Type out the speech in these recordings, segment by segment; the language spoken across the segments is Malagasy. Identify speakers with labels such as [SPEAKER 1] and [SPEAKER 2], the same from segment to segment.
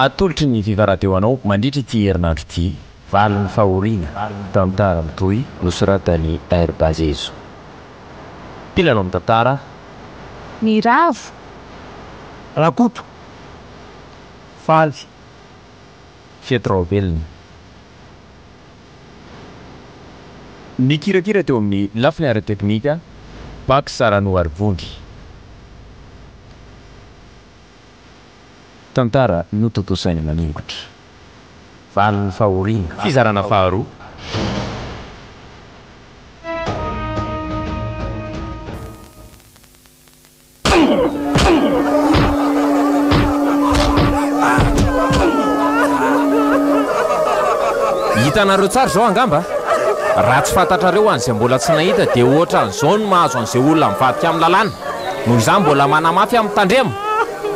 [SPEAKER 1] Atolotry ny Viva Radio anao mandritra ity herinandro ity valin'ny fahoriana, tantara mitohy nosoratan'i RBA Zezo. Mpilalao amin'ny tantara, Ny
[SPEAKER 2] Ravo.
[SPEAKER 3] Rakoto, Faly, Fety
[SPEAKER 1] Raovelona. Nikirakira teo amin'ny lafiny ara-teknika, Bacsa Ranoarivondry. Tantara notontosainy manokatra. Valin'ny fahoriana. Fizarana faharoa.
[SPEAKER 4] Hitanareo tsara izao angamba? Raha tsy fantatrareo an'izay mbola tsy nahita dia ohatran'izao ny mahazo an'izay olona mivadika amin'ny lalàna. Noho izany mbola manamafy aho mitandrema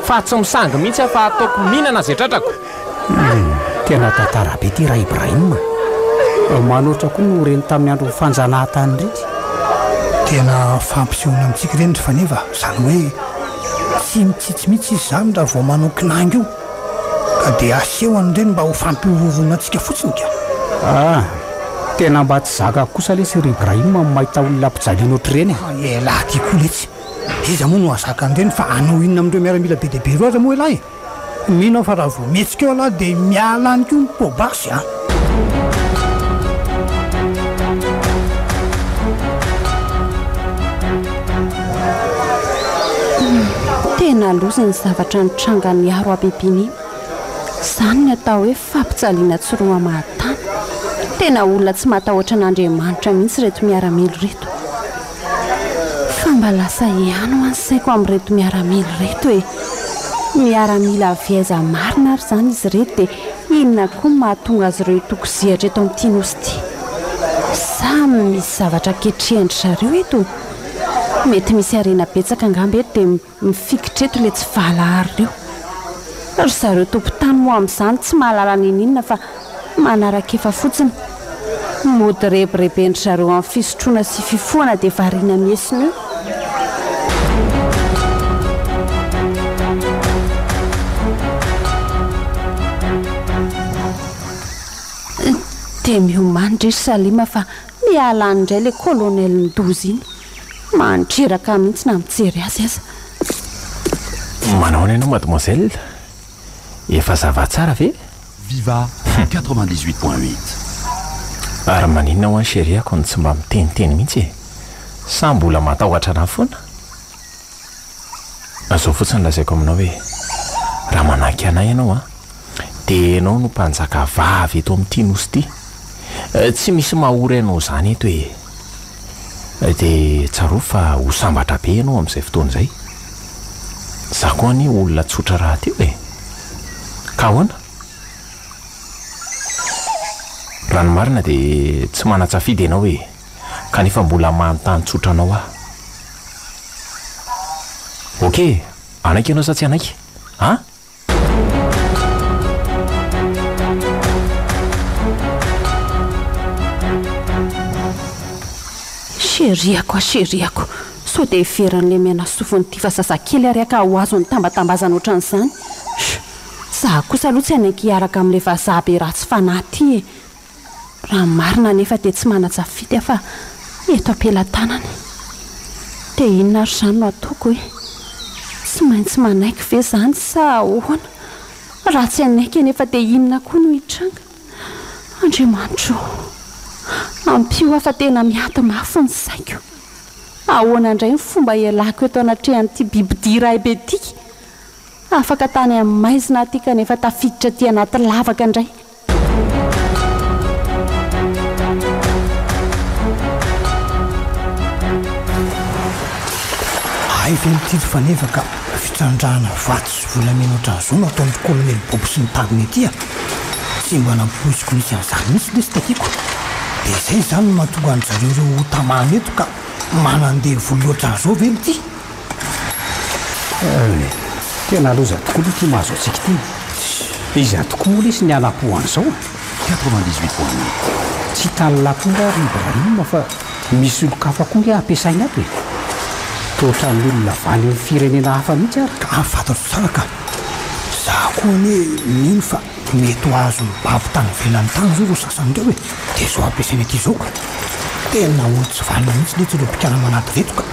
[SPEAKER 4] fa tsy misangy mihitsy aho fa ataoko mihinana izay tratrako.
[SPEAKER 3] Tena tantara be ity Ra Ibrahim a! Vao manoatra koa no reny tamin'ny andron'ny fanjanahantany ireny. Tena fampisehoana amintsika ireny ry faneva, izany hoe tsy mitsitsy mihitsy izy izany raha vao manao kinangy io. Ka dia aseo an'ireny mba ho fampihorohoroanantsika fotsiny ka. Ah! Tena mba tsy zakako kosa lesy ry Ibrahim ny mahita olona mpijaliana ohatr'ireny e! Ny elah ty koa letsy! Iza moa no hahazaka an'ireny fa hanao inona amin'ireo miaramila be dia be ireo aza moa elah e! Mino aho fa raha vao mihetsika eo elah dia miala any koa ny peau basse an!
[SPEAKER 2] Tena loza ny zavatra nitranga niaro habibiana iny. Izany ny atao hoe fampijaliana tsy roa maha tany. Tena olona tsy matahoatra an'Andriamanitra mihitsy ireto miaramila ireto. Fa mba lasa ihany ho'a ny saiko amin'ireto miaramila ireto e! Miaramila avy aiza marina ary izany izy ireto dia inona koa no mahatonga azy ireo hitokozihatra eto amin'ity nosy ity? Sa misy zavatra ketrehindry zareo eto? Mety misy harena betsaka angamba eto dia Mifikitra eto le tsy valahara reo. Ry zareo tompotany moa amzany tsy mahalala nininona fa manarakefa fotsiny. Mody rebirebendry zareo am fisotroana sy fifohana de variana miesona eo. Dia miomany re ry Salima fa miala any indray le colonel midoza iny. Mandreraka ahy mihitsy na mijery azy aza.
[SPEAKER 4] Manaona ianao mademoiselle? Efa zava tsara ve? Viva
[SPEAKER 5] quatre-vingt dix huit point huit.
[SPEAKER 4] Ary maninona ho'a ny cherie-ko no tsy mba miteniteny mihitsy e? Sa mbola matahotra anà foana? Fa zao fotsiny lazaiko aminao hoe, raha manahky anay ianao an, dia ianao no mpanjaka vavy eto amin'ity nosy ity. Tsy misy mahory anao izany eto ee. Dia tsarovy fa ho sambatra be ianao amin'izay fotoana izay. Za koa anie olona tsotra rahateo ee. Ka ahoana? Raha ny marina dia tsy manan-tsafidy ianao ee. kanefa mbola manontany tsotra anao aho. Ok, hanaiky ianao sa tsy hanaiky? An?
[SPEAKER 2] Cheriako a cheriako, sao dia heveran'ilay miaina sofin'Tifa zazakely ary haka ho azon'ny tambatambazana ohatran'izany. Chut! Izaho kosa aloha tsy hanaiky hiaraka amin'ilay vazaha be ratsy fanahy ity e! Raha ny marina anefa dia tsy manan-tsafidy aho fa eto am-pelatanana e! Dia inona ary izany no ataoko e? Tsy maintsy manaiky ve izany sa ahoana? Raha tsy hanaiky anefa dia inona koa no hitranga? Andriamanitro o! Ampio aho fa tena miady mafy ny saiko! Ahoana indray ny fomba hialako eto anatrehan'ity bibidia iray be ity? Afaka tany amin'ny maizina aho ity kanefa tafiditra aty anaty lavaka indray!
[SPEAKER 3] Hay ve mitily faneva ka fitrandrahana vato sy volamena ohatran'izao no ataon'ny kolonely Bobo sy ny tagony aty a! Tsy mba nampoiziko nisy an'izany mihitsy lesy takiako. Dia izay izany no mahatonga an-dry zareo ireo ho tamana eto ka manandevo loatran'izao ve ny ty?
[SPEAKER 6] Tena loza tokoa ity mahazo antsika ity. Dia iza tokoa moa lesy ny hanampo an'izao a? Quatre-vingt-dix-huit
[SPEAKER 5] point neuf. Tsy hitan'i
[SPEAKER 6] Lapoura ary Ibrahim fa misy olon-kafa koa ange ampiasainy ato e! Toa ohatran'ny olona avy any amin'ny
[SPEAKER 3] firenena
[SPEAKER 6] hafa mihitsy ary. Ka
[SPEAKER 3] fantatro
[SPEAKER 6] tsara ka! Za
[SPEAKER 3] koa anie mino fa mety ho azon'ny babo tany ivelany tany izao ireo sasany ireo e! Dia izao ampiasaina ity izao ka! Tena olo-tsy vanona mihitsy letsy ireo mpikala manado ireto ka!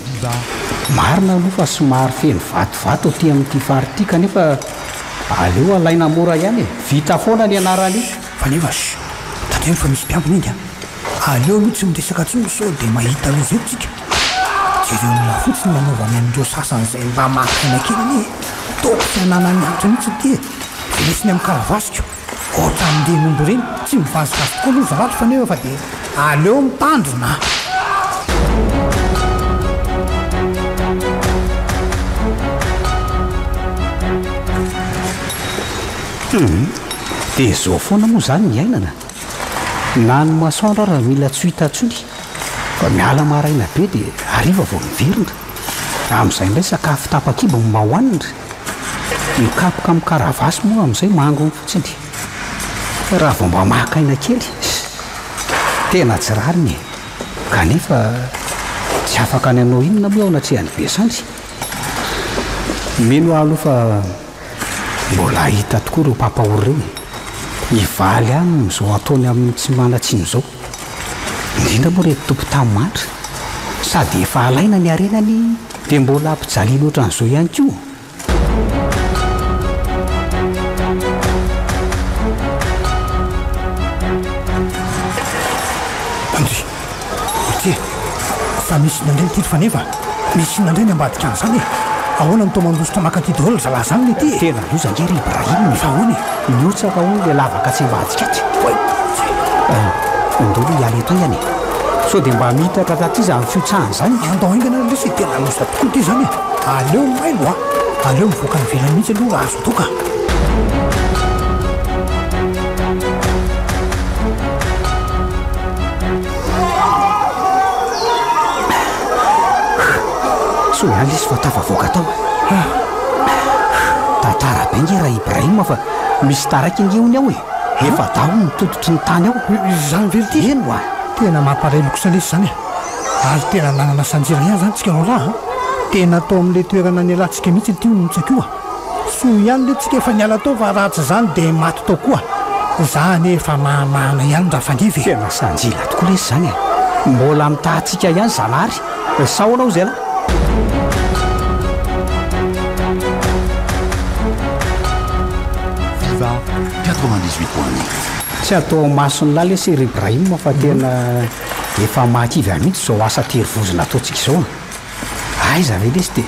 [SPEAKER 6] Biba. Marina aloha fa somary feno vatovato aty amin'ity faritra ity kanefa aleo alaina mora ihany e! Vita foana ny anaran'io. Fa nefa sh!
[SPEAKER 3] Tandremo fa misy mpiambina enga an! Aleo aloha tsy miresaka intsony sao dia mahita loza eto tsika! Jereo olona fotsiny ny anaovany an'ireo sasany izay mba mahataina kely anie e! Toa tsy hananany antony mihitsy ity e! Lesony amin'ny karavasiko! Ohatra an'ireny omby ireny, tsy mivazivazy koa aloha izaho ato kanefa fa dia aleo mitandrina. Hum,
[SPEAKER 6] dia izao foana moa izany ny iainana. Na ny masoandro ary mila tsy ho hita intsony fa miala maraina be dia hariva vao miverina. Amin'izay indray sakafo tapakibo no mba hohanina. Ny kapoka amin'ny karavasy moa amin'izay mangony fotsiny. Fa raha vao mba maka aina kely, tena tsy rariny e! Kanefa tsy afaka ny hanao inona moa aho anatrehan'i Besandry. Mino aho aloha fa mbola hahita tokoa ireo mpampahory ireo e! Hivaly aminy izao ataony amin'ny tsy manan-tsiny izao. Indrindra moa ry tompon-tany mantra, sady efa alaina ny harenany dia mbola hampijaliana ohatran'izao ihany koa.
[SPEAKER 3] Andry! Aty e! Fa misy nandray ny tily faneva! Misy inona indray ny ambadika an'izany e? Ahoana no toa mandositra maka aty daholo ry zalahy zany le ty e? Tena loza ange ry
[SPEAKER 6] Ibrahim e! Fa ahoana e?
[SPEAKER 3] Mihotsaka hono le
[SPEAKER 6] lavaka tsy ambadika aty. Oay! Eh, ondolo hiala eto ihany e! Sao dia mba miitatra taty izany fihotsahan' izany e! Andao haingana ary lesy e!
[SPEAKER 3] Tena loza tokoa ity izany e! Aleo mailo a! Aleo mivoaka any ivelany mihitsy aloha raha azo atao ka!
[SPEAKER 6] Sonaly izy vao tafavoaka tao. Tantara be nge ra Ibrahim fa misy taraiky nge hono ao e. Efa daho ny tototry ny tany ao. Izany ve ity? Eny
[SPEAKER 3] wa. Tena
[SPEAKER 6] mampareloka
[SPEAKER 3] kosa lesy izany e. Ary tena nanana sanjirana ihany izany tsika roalahy a. Tena tao amin'ilay toerana nialantsika mihitsy ity hono ny tsakoa. Soa ihany le tsika efa niala tao fa raha tsy zany de maty tao koa za anie efa mahamahana ihany ra fangevy e! Tena sanjila tokoa
[SPEAKER 6] lesy zany e! Mbola mitaha antsika ihany Zanahary e! Sao anao zay lah!
[SPEAKER 5] Viva 98 point 9.
[SPEAKER 6] Tsy atao masony lah lesy ry Ibrahim fa tena efa mahakivy ahy mihitsy izao asa tery vozona ataontsika izao a! Aiza ve lesy de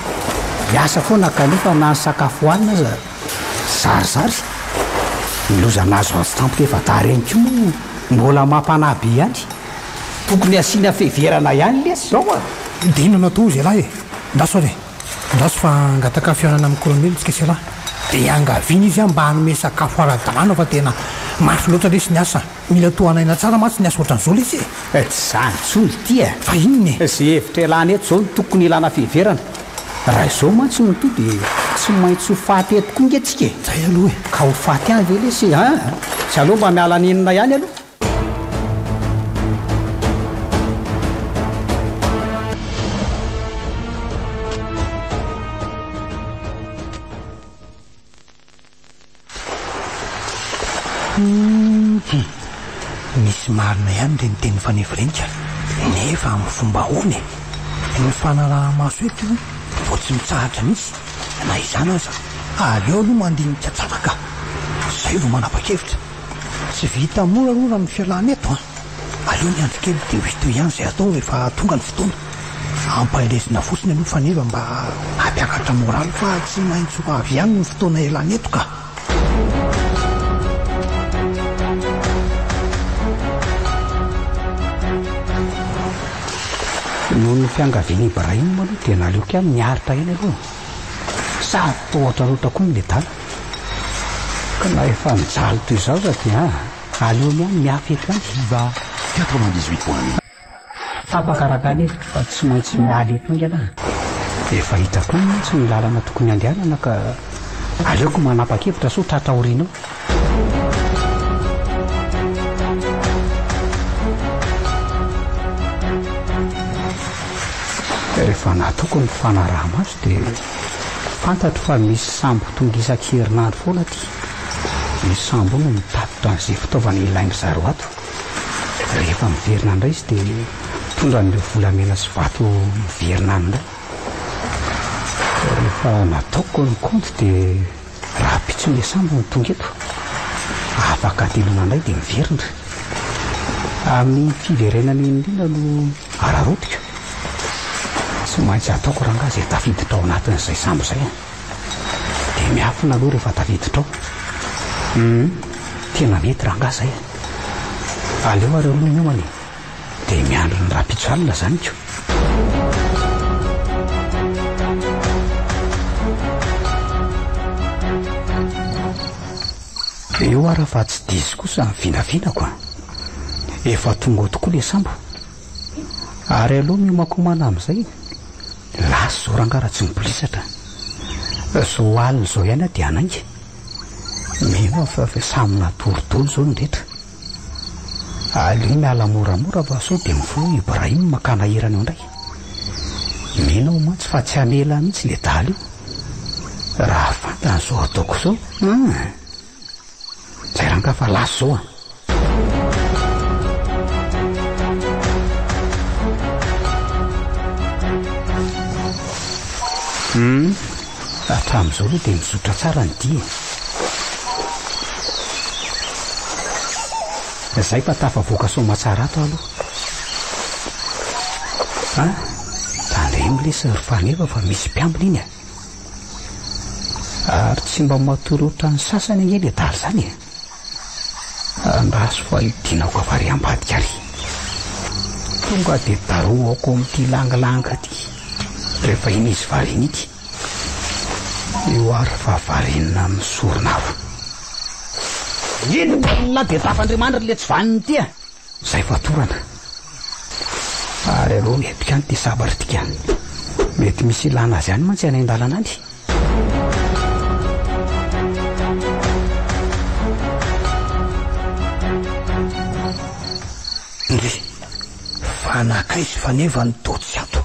[SPEAKER 6] miasa foana kanefa na ny sakafo hohanina aza zarizary? Ny loza nahazo azy tampoka efa tara ihany koa moa mbola mampanahy be ihany. Tokony asiana fiheverana ihany lesy izao a! Dia inona no atao hoy
[SPEAKER 3] zialahy e? Andraso ary e! Andraso fa hangataka fihaonana amin'i Kolonely isika sy ialahy. Dia iangaviana izy an mba hanome sakafo ara-dalàna fa tena mafy loatra lesy ny asa. Mila tohanaina tsara mantsy ny asa ohatran'izao lesy e! Eh, tsy izany intsony
[SPEAKER 6] ity e! Fa inona e? Izay hevitra
[SPEAKER 3] ialana eto
[SPEAKER 6] izao no tokony ilana fiheverana. Raha izao mantsy no toa dia tsy maintsy ho faty eto koa ange tsika e! Izay aloha e! Ka ho
[SPEAKER 3] faty any ve
[SPEAKER 6] lesy e? An! Izay aloha mba miala nenina ihany aloha.
[SPEAKER 3] Hum! Misy marina ihany le niteny Fanirirenika nefa amin'ny fomba ahoana e? Ny fanaraha-maso eto vao tsy mitsahatra mihitsy, na izany aza aleo aloha mandinika tsara ka! Zay vao manapa-kevitra. Tsy vita mora aloha raha ny fialana eto an! Aleo miandry kely dia ho hita ihany izay atao rehefa tonga ny fotoana. Ampandresina fotsiny aloha faneva mba hampiakatra moraly fa tsy maintsy ho avy ihany ny fotoana ialana eto ka.
[SPEAKER 6] Noho ny fiangavian'i Ibrahim aloha dia naleo kely niaritra eny aloha e. Sady toa ohatran'ny roatra koa ny nedala. Ka na efa nijaly toy izao aza dia. Aleo ihany ny hafa eto an! Viva
[SPEAKER 5] 98 point 1. Tapaka
[SPEAKER 6] Ragan e fa tsy maintsy miala eto enga lah. Efa hita koa mantsy ny lalana tokony handehanana ka aleoko manapakevitra sao tratra aoriana ao. Rehefa nataoko ny fanaraha-maso dia fantatro fa misy sambo tonga isan-kerinandro foana aty. ny sambo no mitatitra an'izay fitaovana ilain-dry zareo ato. Rehefa miverina indray izy dia mitondra an'ireo volamena sy vato miverina any indray. Rehefa nataoko ny kaonty dia rahampitso ilay sambo no tonga eto. Afaka antenaina indray dia miverina. Amin'iny fiverenana iny indrindra no araraotiko. Tsy maintsy ataoko rangahy izay tafiditra ao anatin'izay sambo izay an! Dia miafina aloha rehefa tafiditra ao. Hum, tena mety rangahy izay e. Aleo ary aloha miomana e. Dia miandry ny rahampitso alina izany ko. Eo ary fa tsy diso kosa ny vinavinako a. Efa tonga ao tokoa ilay sambo. Ary aleo miomankomana amin'izay. Lasa izao rangahy raha tsy mibolisatra. Izao alina izao ihany aho dia hanainga. Mino aho fa efa samy natory daholo izao ny rehetra. Aleo miala moramora fa sao dia mifoha Ibrahim makana hirany ao indray. Mino aho mantsy fa tsy hamela mihitsy ilay dahalo io. Raha fantany izao ataoko izao an! Zay rang ka fa last zao an. Hum, hatramin'izao aloha dia mizotra tsara ny dihy e. Izay fa tafavoaka Soamatsara ato aho aloha. An, tandremo lesy ry Faneva fa misy mpiambina iny e. Ary tsy mba matory ohatran'ny sasany ange le daly zany e! Andraso fa hidinako avy ary ambadika ary! Tonga de darohako amin'ity langilanga ty rehefa iny izy variana ity! Io ary fa variana amin'ny sorona aho! Inona ny lahy be tafandrimanitra le tsy vaniny ity a! Zay vao atorana. Fa ry alou mihepika any ty sabatra ty ka. Mety misy ilana azy any mantsy any an-dalana any.
[SPEAKER 3] Ndry. Fa nankaiza i Faneva no toa tsy ato?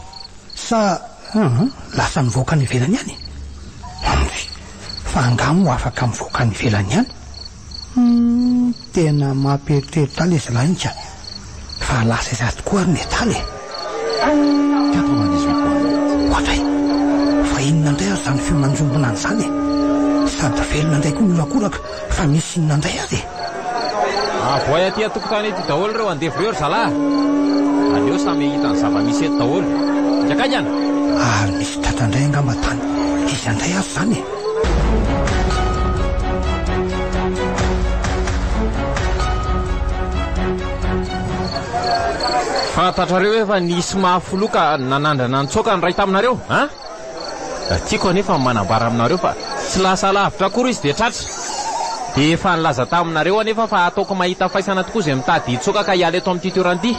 [SPEAKER 3] Sa lasa nivoaka any ivelany any? Ndry. Fa angaha moa afaka mivoaka any ivelany any? Humm tena mampieritreritra ahy le zalahy ka! Fa lasa aiza tokoa ary ny etaly e! Quatre-vingt-dix-huit
[SPEAKER 5] point huit. Oadray!
[SPEAKER 3] Fa inona indray ary izany feo nanjombona ana izany e! Sady velona indray koa ny horakoraka fa misy inona indray ary e!
[SPEAKER 4] Avoay aty an-tokotany aty daholo ireo andevo ireo ry zalahy a! Aleo samy hahita ny zava-misy eto daholo. Ingaikaika ana! Ary misy
[SPEAKER 3] tratra indray angamba tany iza indray ary izany e!
[SPEAKER 4] Fantatrareo efa nisy mahafiloha ka nanandrana nitsoaka ny iray taminareo an! Tiako anefa ny manambara aminareo fa tsy lasa lavitra akory izy dia tratra! Dia efa nilaza taminareo anefa fa hataoko mahita faisana tokoa izay mitady hitsoaka ka hiala eto amin'ity toeran-ity!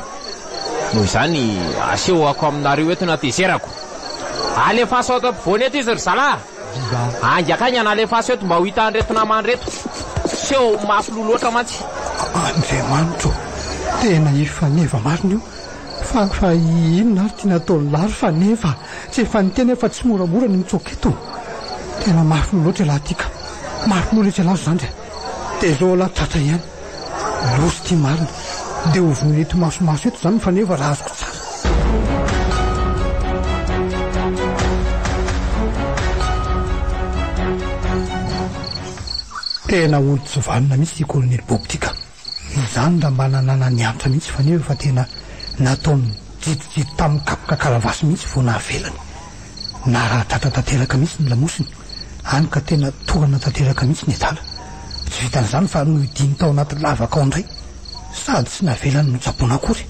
[SPEAKER 4] Noho izany, asehoko aminareo eto ny hatezerako! Alefaso ato ampovoany eto izy ry zalahy. Ainga akaigy an alefaso eto mba ho hitan ireto namany reto. Seho ho mafy loha loatra mantsy. Andriamanitra
[SPEAKER 3] ô! Tena i Faneva marina io fa fa inona ary ity nataon'i lahy ry Faneva? Tsy efa niteny aho fa tsy moramora ny mitsoaka eto. Tena mafy loha loatra ialahy ity ka. Mafy loha letsy ialahy ry zandry a! Tezao ialahy tratra ihany. Nosy ity marina dia hovonoina eto imasomaso eto izany ny faneva raha azoko tsara. Tena olo tsy vanona mihitsy ity Kolonely Bob ity ka. Izany raha mba nananany antra mihitsy i faneva fa tena nataony jidojido tamin'ny kapoka karavasy mihitsy vao nahavelany. Naradratra tanteraka mihitsy ny lamosiny. Hany ka tena torana tanteraka mihitsy ny adala. Tsy vitan'izany fa nohidiany tao anaty lavaka ao indray sady tsy navelany notsaboina akory.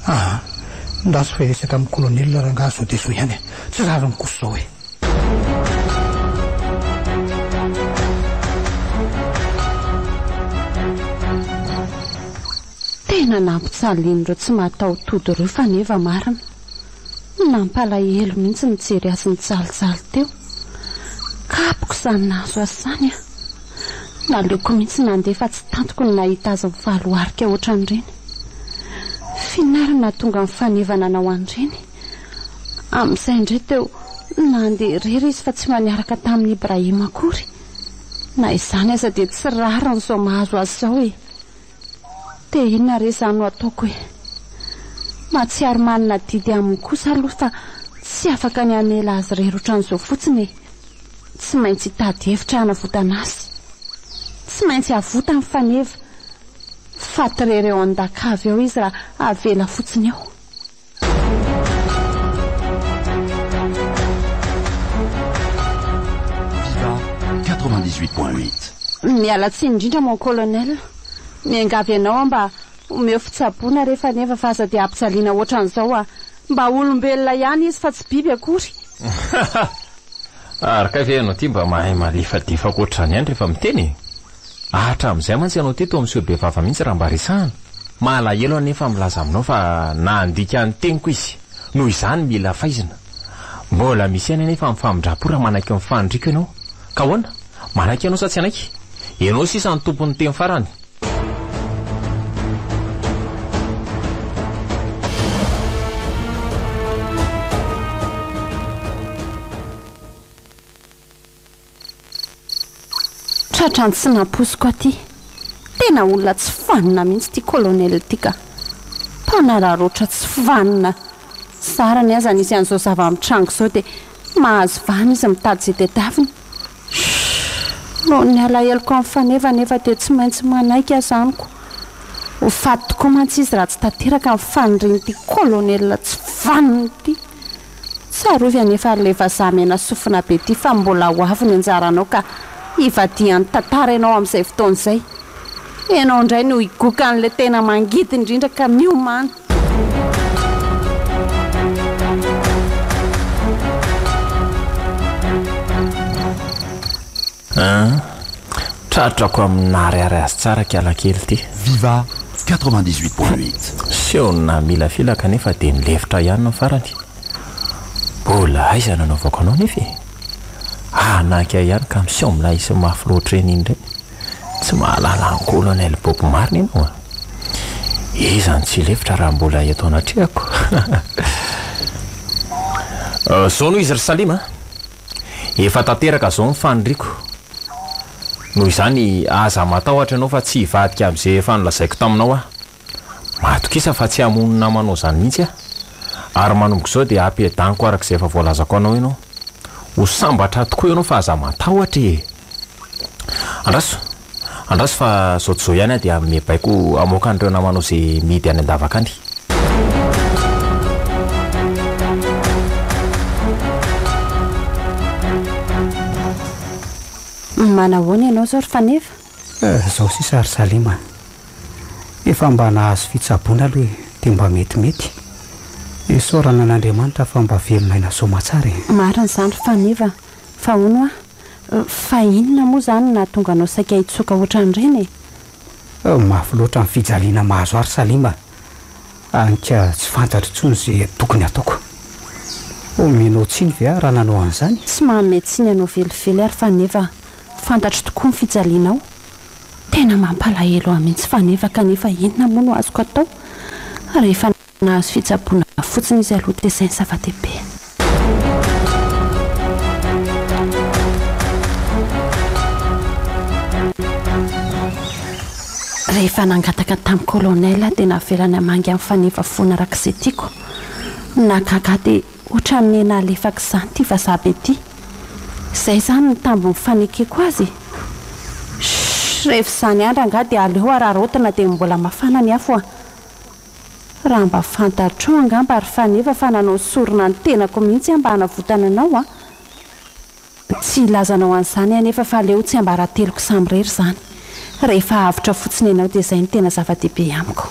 [SPEAKER 3] Aa! Ndaso fa hiresaka amin'ny kolonely rangahy zao dia zao ihany a! Tsy rariny kosa zao e!
[SPEAKER 2] Tena nampitsalian'ireo tsy mataho-tody ireo faneva marina. Nampalahelo mihitsy nijery azy nijalijaly teo. Kapoka izany nahazo azy izany an! Naleoko mihitsy nandeha fa tsy tantiko ny nahita azy mivaloharika ohatran'ireny. Finariny nahatonga ny faneva nanao an'ireny. Amin'izay indray teo nandeha irery izy fa tsy mba niaraka tamin'i Ibrahim akory. Na izany aza dia tsy rariny izao mahazo azy izao e! Dia inona re izany no ataoko e? Mahatsiaro manana adidy aminy kosa aloha fa tsy afaka ny hamela azy irery ohatran'izao fotsiny e! Tsy maintsy hitady hevitra hanavotana azy. Tsy maintsy avotany faneva. Faty irery eo an-daka avy eo izy raha avela fotsiny eo.
[SPEAKER 5] Miala tsiny
[SPEAKER 2] indrindra mon colonel. Miangavy anao aho mba omeo fitsaboana re faneva fa aza dia ampijaliana ohatran'izao a! Mba olombelona ihany izy fa tsy biby akory.
[SPEAKER 4] Ary kay ve ianao ity mba mahay malefadefaka ohatr'izany ihany rehefa miteny e? Aah hatramin'izay mantsy ianao teto amin'ny seho bevava mihitsy raha mba resahana. Mahalahelo anefa milaza aminao fa nandika ny teniko izy. Noho izany mila faizina. Mbola misy ihany anefa ny famindram-po raha manaiky ny faniriako ianao. Ka ahoana? Manaiky ianao sa tsy hanaiky? Ianao sisa no tompon'ny teny farany.
[SPEAKER 2] Tratran'ny tsy nampoiziko aty. Tena olona tsy vanona mihitsy ity colonel ity ka. Mpanararaotra tsy vanona. Zara ny aza nisy an'izao zava-mitranga izao dia mahazo vahana izy mitady izay tadiaviny. Shhh. Noho ny alaheloko an'i Faneva anefa dia tsy maintsy manaiky aza amiko. Ho faty tokoa mantsy izy raha tsy tanteraka ny fanirian'ity colonel tsy vanona ity. Tsarovy anefa ry le vazaha mena sofina be ty fa mbola ho avy ny anjaranao ka hivadihan'ny tantara ianao amin'izay fotoana izay. Ianao indray no higoka an'ilay tena mangidy indrindra ka miomana.
[SPEAKER 4] An! Tratrako amin'ny naharihary azy tsara kialakely ty. Viva 98
[SPEAKER 5] point 8. Seho na
[SPEAKER 4] mila fila kanefa dia nilefitra ihany ny farany. Mbola aiza no anaovako anao nefa e! Hanaky ahy ihany ka miseho milay sy mafy loatra eny indray. Tsy mahalala an'i Colonel Bob Marley ianao a! Iza no tsy hilefitra raha mbola eto anatrehako? Zao noho izy ry Salim a! Efa tanteraka zao ny faniriako. Noho izany aza matahotra ianao fa tsy hivadika amin'izay efa nolazaiko taminao aho. Matokisa fa tsy hamono ny namanao izany mihitsy aho. Ary manomboka izao dia hampiadaniko araka izay efa voalazako anao ianao. Ho sambatra tokoa ianao fa aza matahotra e! Andraso! Andraso fa zao tsy zao ihany aho dia hanome baiko hamoaka an'ireo namanao izay mihidy any an-davaka any.
[SPEAKER 2] Manahoana ianao izao ry Faneva? Eh, izao sisa
[SPEAKER 6] ry Salima. Efa mba nahazo fitsaboana aloha e, dia mba metimety. Isaorana an'Andriamanitra fa mba velonay nahasoa aman-tsara e. Marina izany ry
[SPEAKER 2] Faneva, fa hono hoa. Fa inona moa izany no nahatonga anao saika hitsoaka ohatran'ireny e?
[SPEAKER 6] Mafy loatra ny fijaliana mahazo ahy ry Salima, hany ka tsy fantatro intsony izay tokony hataoko. Omenao tsiny ve aho raha nanao an'izany? Tsy manome tsiny anao
[SPEAKER 2] velively aho ry Faneva, fantatro tokoa ny fijalianao. Tena mampalahelo ahy mihitsy Faneva kanefa inona moa no azoko atao rehefa. Nahazo fitsaboana fotsiny izy aloha dia izay ny zava-dehibe. Rehefa nangataka tamin'ny colonel aho dia navelany hamangy amin'ny faneva foana araka izay tiako. Nahagaga ahy dia ohatran'ny nena halefaka izany ity vazaha be ity. Izay izany ny tambin'ny fanekeko azy e! Shh! Rehefa izany andra angaha dia aleo hararaotina dia mbola mafana ny afo a! Raha mba fantatrao angamba ry Faneva fa nanao sorona ny tenako mihitsy aho mba hanavotana anao a! Tsy hilaza anao an'izany aho anefa fa aleo tsy ambarateloko samirery izany. Rehefa avotra fotsiny ianao dia izay no tena zava-dehibe amiko.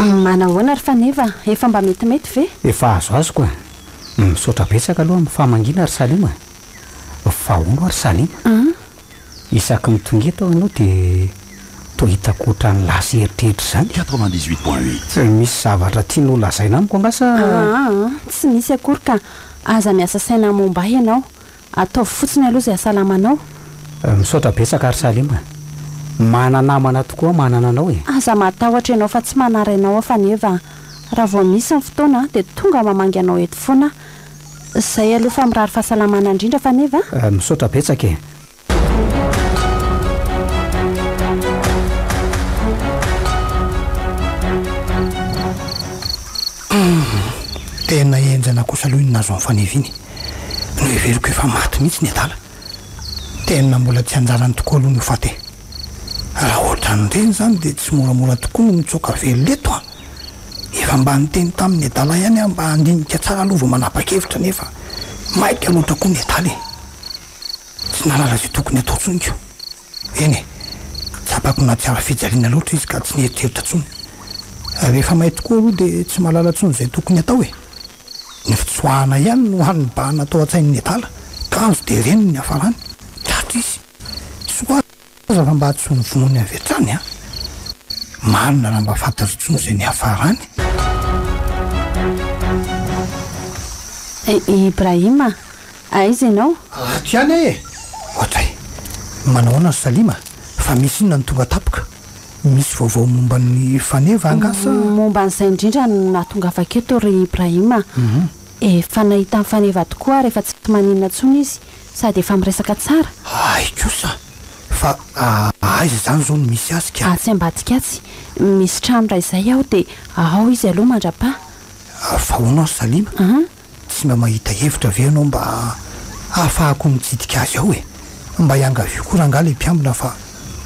[SPEAKER 2] Manahoana ry Faneva, efa mba
[SPEAKER 6] metimety
[SPEAKER 2] ve? Efa azoazoko
[SPEAKER 6] a! Misaotra betsaka aloha amin'ny famangiana ry Salima a! Fa hono ho'a ry Salima a! Isaky mitonga eto aho ianao dia toa hitako ohatran'ny lasa eritreritra izany e! Quatre-vingt-dix-huit point huit.
[SPEAKER 5] Misy zavatra
[SPEAKER 6] tianao holazaina amiko angaha sa? Ahaa, tsy
[SPEAKER 2] misy akory ka aza miasa saina momba ahy ianao Ataovy fotsiny aloha izay asalamanao. Misaotra
[SPEAKER 6] betsaka ry Salim a. Mana namana tokoa manana anao e. Aza matahotra ianao
[SPEAKER 2] fa tsy manara ianao aho faneva a. Raha vao misy ny fotoana dia tonga mamangy anao eto foana aho. Izay aloha fa mirary fahasalamana indrindra faneva a. Misaotra betsaka e.
[SPEAKER 3] Humm tena enjana kosa aloha iny nahazo an'i Faneva iny, noheveriko efa maty mihitsy ny adala, tena mbola tsy anjarany tokoa aloha ny ho faty e! Raha ohatran'ireny izany dia tsy moramora tokoa ny mitsoaka velona eto an! Efa mba niteny tamin'ny adala ihany aho mba handinika tsara aloha vao manapa-kevitra nefa maika loatra koa ny adala e! Tsy nahalala izay tokony hatao intsony ko! Eny e, tsapako nahatsara fijaliana loatra izy ka tsy nieritreritra intsony. Rehefa may tokoa aloha dia tsy mahalala intsony izay tokony hatao e. Ny fitsoahana ihany no hany nibahana tao an-tsain'ny adala, kanjo dia reny ny niafarany. Tratra izy. Soa aza fa mba tsy ho novonoiny avy hatrany an! Marina raha mba fantatro intsony izay niafarany.
[SPEAKER 2] I Ibrahim a! Aiza ianao? Ato ihany aho e!
[SPEAKER 3] Ohatr'ay! Manahoana ry Salima? Fa misy inona no tonga tampoka? Misy vaovao momba an'i Faneva angaha sa? Momba an'izay indrindra
[SPEAKER 2] no nahatongavako eto ry Ibrahim a! Efa nahita an'i Faneva tokoa ary efa tsy maninona intsony izy sady efa miresaka tsara. Hay kosa!
[SPEAKER 3] Fa aiza izany izao no misy azy ka? Atsy ambadika atsy.
[SPEAKER 2] Misy trano iray izay ao dia ao izy aloha mandra-paha. Fa
[SPEAKER 3] hono ry Salima? Tsy mba mahita hevitra ve ianao mba hahafahako mikitika azy ao e? Mba iangavio koa rangah le mpiambina fa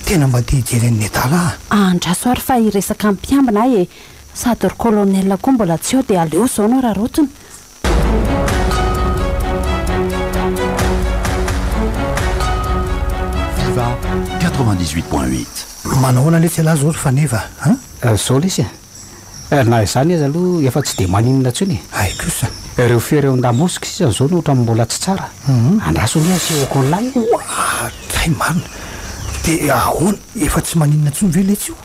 [SPEAKER 3] tena mba te hijery an'i Nedala ah. Andraso ary fa
[SPEAKER 2] hiresaka amin'ny mpiambina aho e! Sady ry colonel koa mbola tsy ao dia aleo izao no hararaotina.
[SPEAKER 5] Viva quatre-vingt-dix-huit point huit. Manao ahoana
[SPEAKER 3] lesy ialahy izao ry faneva a? Ary zao lesy
[SPEAKER 6] a! Eh, na izany aza aloha efa tsy dia maninona intsony e! Hay kosa, ireo
[SPEAKER 3] fery ao
[SPEAKER 6] Ndamosc sisa izao no ohatran'ny mbola tsy tsara. Andraso anie asia au col lahy e! Oa! Hay
[SPEAKER 3] marina! Dia ahoana, efa tsy maninona intsony ve letsy io?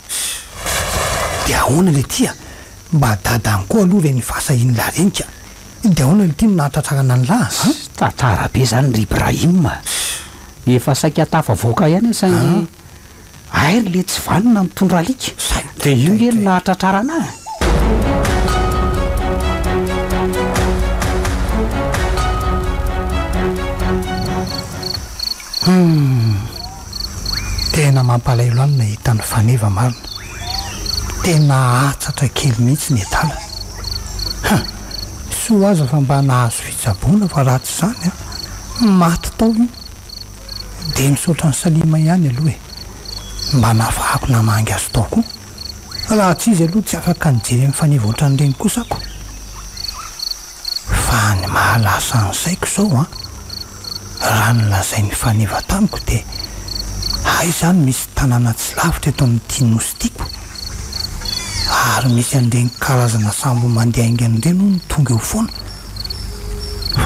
[SPEAKER 3] Ssss! Dia ahoana le ty a! Mba dada any koa aloha ve ny fahasahian'i la renika? Dia ahoana le ty no nahatratrarana an'i la a? Ssss! Tantara be izany
[SPEAKER 6] ry Ibrahim a! Ssss! Efa saika tafavoaka ihany aho saingy. Hay ry letsy vanona mitondra alika. Dia io nge no nahatratrarana ahy.
[SPEAKER 3] Humm. Tena mampalahelo ahy ny nahita an'i Faneva marina. Tena hatsatra kely mihitsy ny edala. Huh. Soa aza fa mba nahazo fitsaboana fa raha tsy izany an, maty tao io. Dia misaotra an'i Salima ihany aloha e! Mba nahafahako namangy azy tao koa. Raha tsy izy aloha tsy afaka nijery amin'ny faneva ohatran'ireny kosa ako. Fa ny maha lasa ny saiko izao an! Raha ny lazain'ny faneva tamiko dia hay izany misy tanàna tsy lavitra eto amin'ity nosy tiako. Ary misy an'ireny karazana sambo mandihaingana ireny hono tonga eo foana.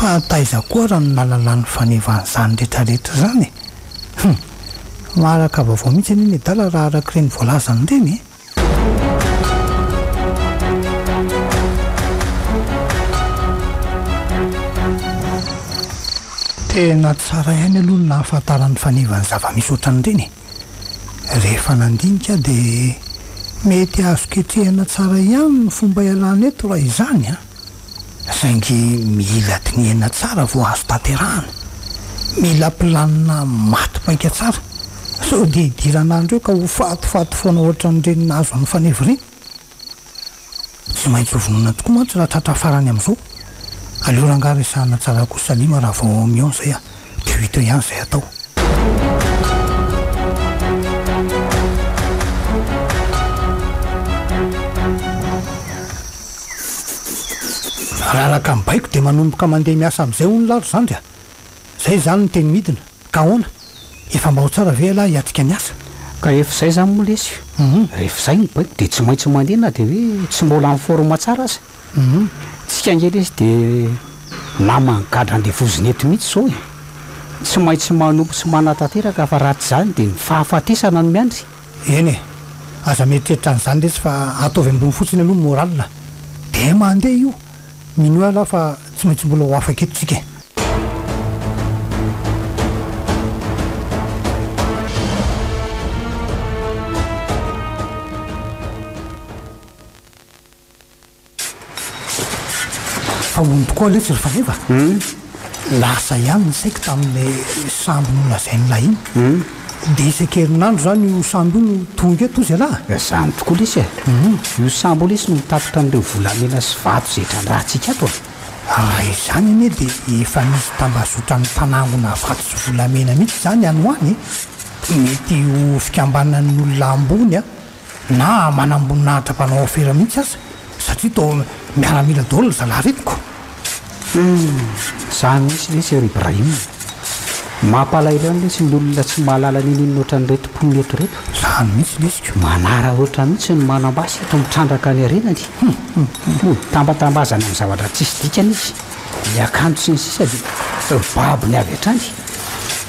[SPEAKER 3] Fa taiza koa ra no nalalan'ny faneva an'izany retraretra izany e? Hum! Maharaka vaovao mihitsy anie ny adala raha arak'ireny voalazany ireny e! Tena tsara ihany aloha ny nahafantaran'ny faneva ny zava-misy ohatran'ireny e! Rehefa nandinika aho dia mety azo ketrehina tsara ihany ny fomba ialana eto raha izany an! saingy mila dinihana tsara vao azo tanterahana. Mila planina maty paika tsara sao dia idirana andro eo ka ho fatifaty foana ohatran'ireny nahazo an'i Faneva ireny. Tsy maintsy ho vonona tokoa mantsy raha tratra farany amin'izao. Aleo rangahy resahana tsara koa Salima raha vao mihaona izay a! de hita ihany zay atao. Raha araka ny baiko dia manomboka mandeha miasa amin'izay hono lalo zandry a! Zay izany no teny midina, ka ahoana? Efa mba ho tsara ve ialahy hiatrika ny asa? Ka rehefa izay izany
[SPEAKER 6] moa lesy, rehefa izay ny baiko dia tsy maintsy mandeha na dia hoe tsy mbola en forme tsara aza. Humm tsika nge lesy de naman'ny gadra andevozina eto mihitsy zao e! Tsy maintsy manompo sy manatanteraka fa raha tsy izany dia ny fahafatesana no miandry. Eny e!
[SPEAKER 3] Aza mieritreritra an'izany lesy fa ataovy ambony fotsiny aloha ny moral a! Dia mandeha io! Minoa ialahy fa tsy maintsy mbola ho afaka eto tsika e! Fa hono tokoa aloha tsy rifariva a! Lasa ihany ny saiko tamin'ilay sambo nolazain'lah iny. Dia isan-kerinandro izany io sambo io no tonga eto hozy ialahy a! Izany tokoa lesy e!
[SPEAKER 6] Io sambo io lesy no mitatitra an'ireo volamena sy vato izay trandrahantsika ato a! Raha izany
[SPEAKER 3] anie dia efa misy tambazotran'ny mpanangona vato sy volamena mihitsy izany any ho any e! Mety ho fikambanan'ny olona ambony a! na manamboninahitra mpanao afera mihitsy aza satria toa miaramila daholo ny zalahy retiko. Humm,
[SPEAKER 6] zany mihitsy lesy ry Ibrahim. Mampalahelo any lesy ny olona tsy mahalala ninoninona ohatran'ireto mponina eto ireto. Zany mihitsy lesiko.
[SPEAKER 3] Manaraotra mihitsy
[SPEAKER 6] ny manam-basy eto mitrandraka any arenany. Humm, humm, humm. Mitambatambazana amin'ny zavatra tsisy dikany izy. ny akanjo sy ny sisa dia ho babony avy hatrany,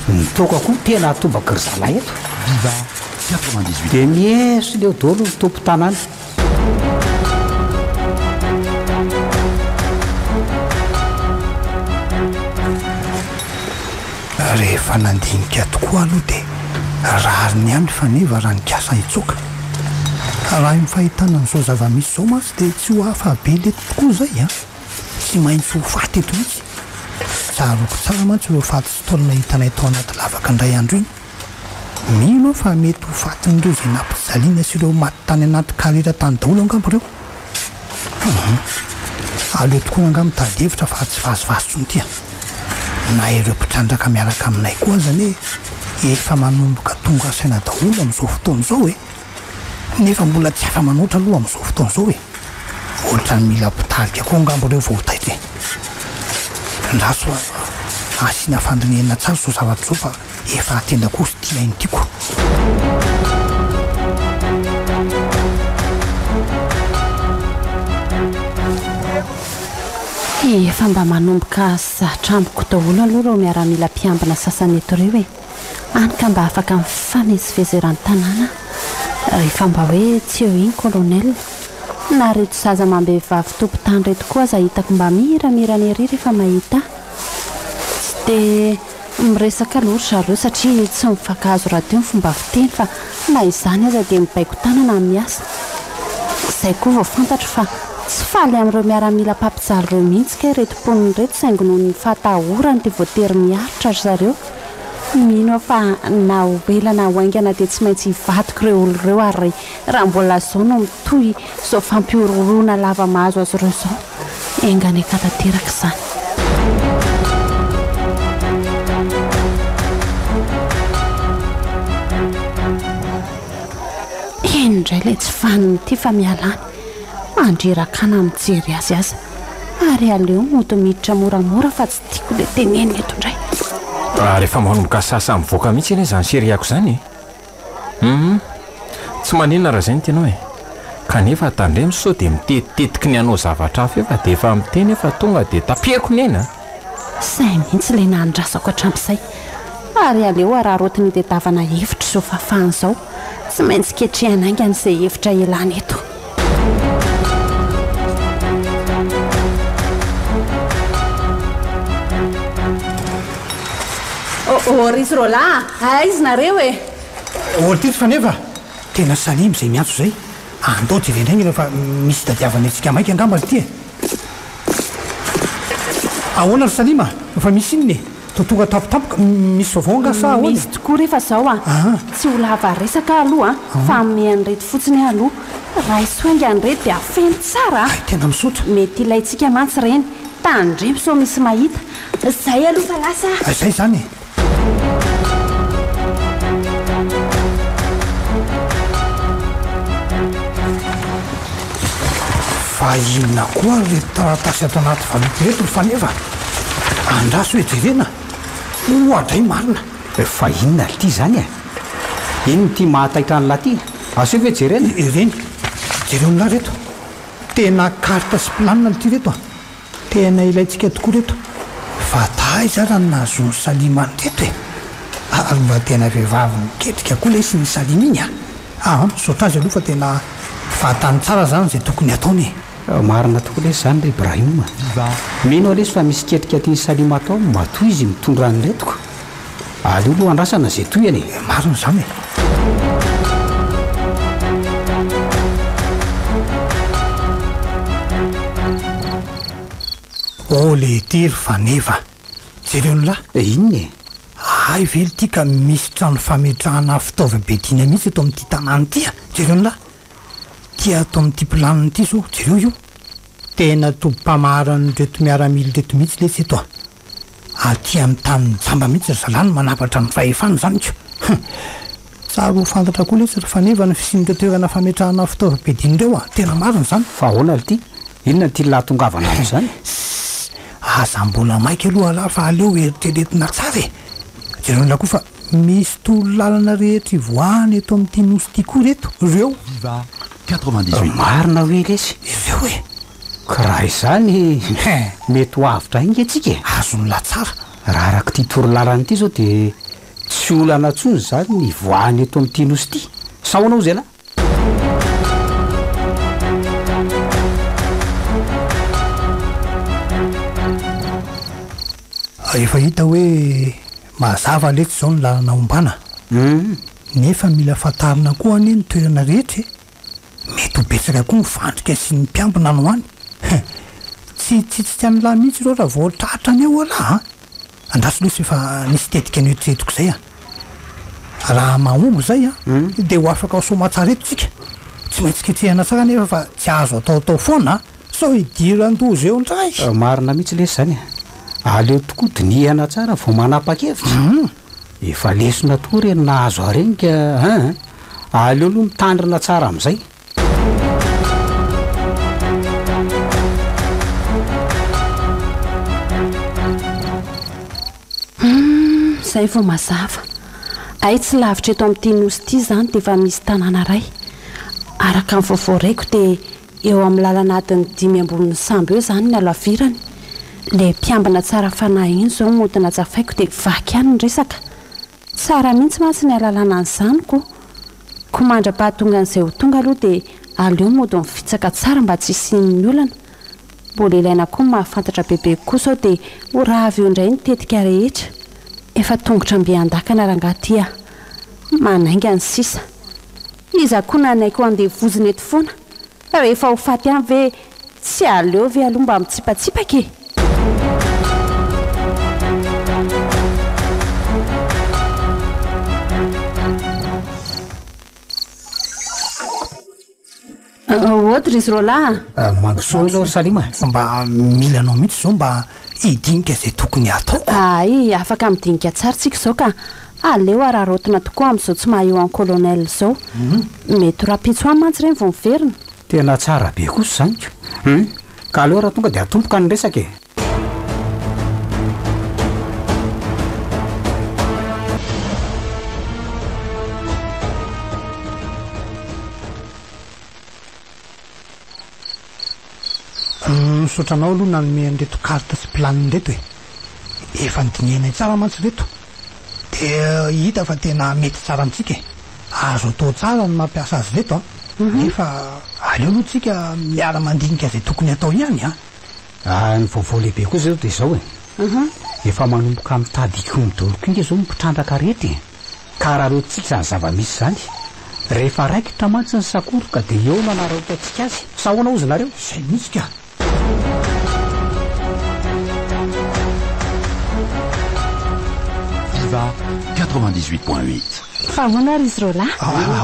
[SPEAKER 6] ny toaka koa tena atobaky ry zalahy eto. Biba,
[SPEAKER 5] quatre-vingt-dix huit. Dia mieso
[SPEAKER 6] leo dolo ny tompo tanàna.
[SPEAKER 3] Rehefa nandinika tokoa aloha dia rariny ihany faneva raha nikasa hitsoaka. Raha io fahitana an'izao zava-misy izao mantsy dia tsy ho hafa be lety tokoa izay an! Tsy maintsy ho faty eto mihitsy. Tsarovy tsara mantsy ireo faty sy taolana hitanay tao anaty lavaka indray andro iny. Mino aho fa mety ho fatin'ireo izay nampijaliana sy ireo maty tany anaty karera tany daholo angamba ireo. Hum. Aleo tokoa angaha mitady hevitra fa tsy vazivazy intsony ity a! Na ireo mpitrandraka miaraka aminay koa aza anie efa manomboka tonga saina daholo amin'izao fotoana izao e! nefa mbola tsy afa-manoatra aloha amin'izao fotoana izao e! Ohatrany mila mpitarika koa angamba ireo vao ho taitra e! Andraso asiana fandinihana tsara izao zavatra izao fa efa tena koa tsy tia ny tiako.
[SPEAKER 2] Efa mba manomboka zatra amiko daholo aloha ireo miaramila mpiambina sasany eto ireo e! Any ka mba afaka mifamezivezy eran-tanàna rehefa mba hoe tsy eo iny colonel. Na reto zaza amam-behivavy tompon-tany reto koa aza hitako mba miramirana ery rehefa mahita ahy. Tsy dia miresaka loha ry zareo satria tsy mifankahazo rahateo ny fomba fiteny fa na izany aza dia mibaiko tanana ny miasa. Izay koa vao fantatro fa tsy faly amin'ireo miaramila mpampijaly ireo mihitsy kay ireto mponina ireto saingy noho ny fahatahorany dia voatery miaritra ry zareo. Tsy mino aho fa na ho ela na ho haingana dia tsy maintsy hivadiko ireo olona ireo ary raha mbola izao no mitohy izao fampihorohoroana lava mahazo azy ireo izao enga any ka tanteraka izany. Heno indray ilay tsy faniny ity fa miala any. Mandreraka na mijery azy aza. Ary aleo mody miditra moramora fa tsy Tiako le tenenina eto indray. Raha rehefa
[SPEAKER 4] manomboka sasa mivoaka mihitsy anie izany seriako izany e! Hum. Tsy maninona raha izay no tianao e! Kanefa tandremo sao dia mitetitetiky ny hanao zavatra hafa eo fa dia efa miteny aho fa tonga dia taperiko ny aina a! Sahy mihitsy
[SPEAKER 2] ilay nahandrasako hatramin'izay. Ary aleo araraotin'ny tetavana hevitra izao fahafahana izao. Tsy maintsy ketrehina haingana izay hevitra ialana eto. Oh-oh, ry sy Roland a! Aiza nareo e? Olo
[SPEAKER 3] tetsy fa nefa tena salemy izay miantso izay. Andao jerena indray ny ela fa misy itadiavana antsika maika angamba ry ity e! Ahoana ry Salima, fa misy inona e? Toa tonga tampotampoka, misy vaovao angaha sa ahoana e? Misy tokoa re fa zao
[SPEAKER 2] an, tsy ho lava resaka aho aloha an, fa hanome an'ireto fotsiny aho aloha, raiso hainga an'ireto dia feno tsara an! Hay tena misaotra. Mety
[SPEAKER 3] ilaintsika mantsy
[SPEAKER 2] ireny, tandremo sao misy mahita. Zay aloha fa lasa aho. Hay zay izany e!
[SPEAKER 3] Fa inona koa ary ireto taratasy ato anaty valopy ireto ry faneva? Andraso hoe jerena oa dray marina. Fa inona ary
[SPEAKER 6] ity izany e? Inona ity mahataitra an'lah ity? Aseho ve jerena? Ireny,
[SPEAKER 3] jereo an'lah reto. Tena carte sy planina ity reto a! Tena ilaintsika tokoa reto. Fa taiza ary ny nahazoan'i Salima an'ireto e? Ary mba tena vehivavy miketrika koa lesy iny Salima iny a! Aah, misaotra azy aloha fa tena fantany tsara izany izay tokony hataony e! Marina tokoa
[SPEAKER 6] lesy zany ry Brahim a! Mba mino aho lesy fa misy ketrika tian'i Salim atao matoa izy mitondra an'i Letiko. Aleo aloha andrasana izay tohiny e! Marina izany e!
[SPEAKER 3] Oh le ity ry faneva! Jereo ny la! Eh inona e?
[SPEAKER 6] Hay ve ity
[SPEAKER 3] ka misy trano fametrahana fitaovam-piadiana mihitsy eto amin'ity tanàna ity a! Jereo ny la! Tia ato amin'ity planina ity zao jereo io. Tena tobim-pamaharan'ireto miaramila ireto mihitsy lesy eto a! Aty amin'ny tanin'ny jamba mihitsy ry zalahy no manavatra ny fahefana izany ka! Hum! Tsara ho fantatra koa lesy ry faneva ny fisian'ireo toerana fametrahana fitaovam-piadiana ireo a! Tena marina izany. Fa ahoana ry ty?
[SPEAKER 6] Inona ity lahatongavana ato izany? Ssss!
[SPEAKER 3] Aza mbola maika aloha alah fa aleo eritreretina tsara e! Jereo an'ilay koa fa. Misy toro lalana rehetra hivoahana eto amin'ity nosy ity koa reto reo.
[SPEAKER 5] Diva 98. Marina hoe lesy
[SPEAKER 6] ireo e!
[SPEAKER 3] Ka raha
[SPEAKER 6] izany mety ho avotra hay nge tsika e! Azon'la tsara.
[SPEAKER 3] Raha arak'ity toro
[SPEAKER 6] lalana ity zao dia tsy olana tsony izany ny hivoahana eto amin'ity nosy ity. Sao anao zay lahy?
[SPEAKER 3] Efa hita hoe mazava letsy izao ny lalana hombana. Nefa mila fantarina koa anie ny toerana rehetra e! Mety ho betsaka koa ny fandrika sy ny mpiambina any ho any. Tsy hitsitsika an'lah mihitsy ireo raha vao tratra any aolah a! Andraso lesy fa nisy tetika noeritreretiko izay an! Raha mahomby izay an, dia ho afaka ho soamatsara eto isika. Tsy maintsy ketrehina tsara anefa fa tsy azo ataotao foana an! Sao hidiran-doza eo indray! Marina mihitsy lesy izany
[SPEAKER 6] e! Aleo tokoa dinihana tsara vao manapa-kevitra. Efa lesona tokoa ireny nahazo arenika an! Aleo aloha mitandrina tsara amin'izay.
[SPEAKER 2] Izay vao mazava. Hay tsy lavitra eto amin'ity nosy ity izany dia efa misy tanàna iray. Araka ny vaovao raiko dia eo amin'ny lalana adin'ny dimy ambonin'ny sambo eo izany ny halavirany. Ilay mpiambina tsara fanahy iny izao mody najafaiko dia vaky ihany ny resaka. Tsara mihitsy mantsy ny alalana ny zaniko ko mandra-pahatongan'izay ho tonga aloha dia aleo mody mifitsaka tsara mba tsy hisian'ny olana. Mbola ilaina koa ny mahafantatra bebe kokoa sao dia ho rava eo indray ny tetika rehetra. Efa tongotra mby an-dakana rangaha ty ah. Manainga ny sisa. Iza koa nanaiky ho andevozina eto foana. Fa rehefa ho faty any ve tsy aleo ve aloha mba mitsipatsipaka e! Aoka ry Zrôla a! Mandrosoa aloha ry
[SPEAKER 3] Salima e! Fa mba mila anao mihitsy izao mba hidinika izay tokony hataoko. Hay, afaka
[SPEAKER 2] midinika tsara tsika izao ka! Aleo araraotina tokoa amin'izao tsy maha Ioan Colonel izao. Mety ho rahampitso any mantsy ireny vao miverina. Tena tsara be
[SPEAKER 6] kosa izany ka! Hum! Ka aleo raha tonga dia atomboka ny resaka e!
[SPEAKER 3] Misaotra anao aloha nanome an'ireto carte sy plan ireto e! Efa nodinihanay tsara mantsy ireto dia hita fa tena mety tsara amintsika e! Azo atao tsara ny mampiasa azy ireto an! Nefa aleo aloha tsika miara mandinika izay tokony atao ihany an! Raha ny
[SPEAKER 6] vaovao lehibe kosa izao dia izao e! Efa manomboka mitady hikomy dolo kinga izao ny mpitrandraka rehetra e! Ka hararoantsika izany zava-misy izany. Rehefa raikitra mantsy ny sakoroka dia eo no hanararaotantsika azy. Sa ahoana hozy nareo? Izay mihitsy ka!
[SPEAKER 5] Diva quatre-vingt-dix-huit point huit. Fa ahoana
[SPEAKER 2] ary izy ireo lahy?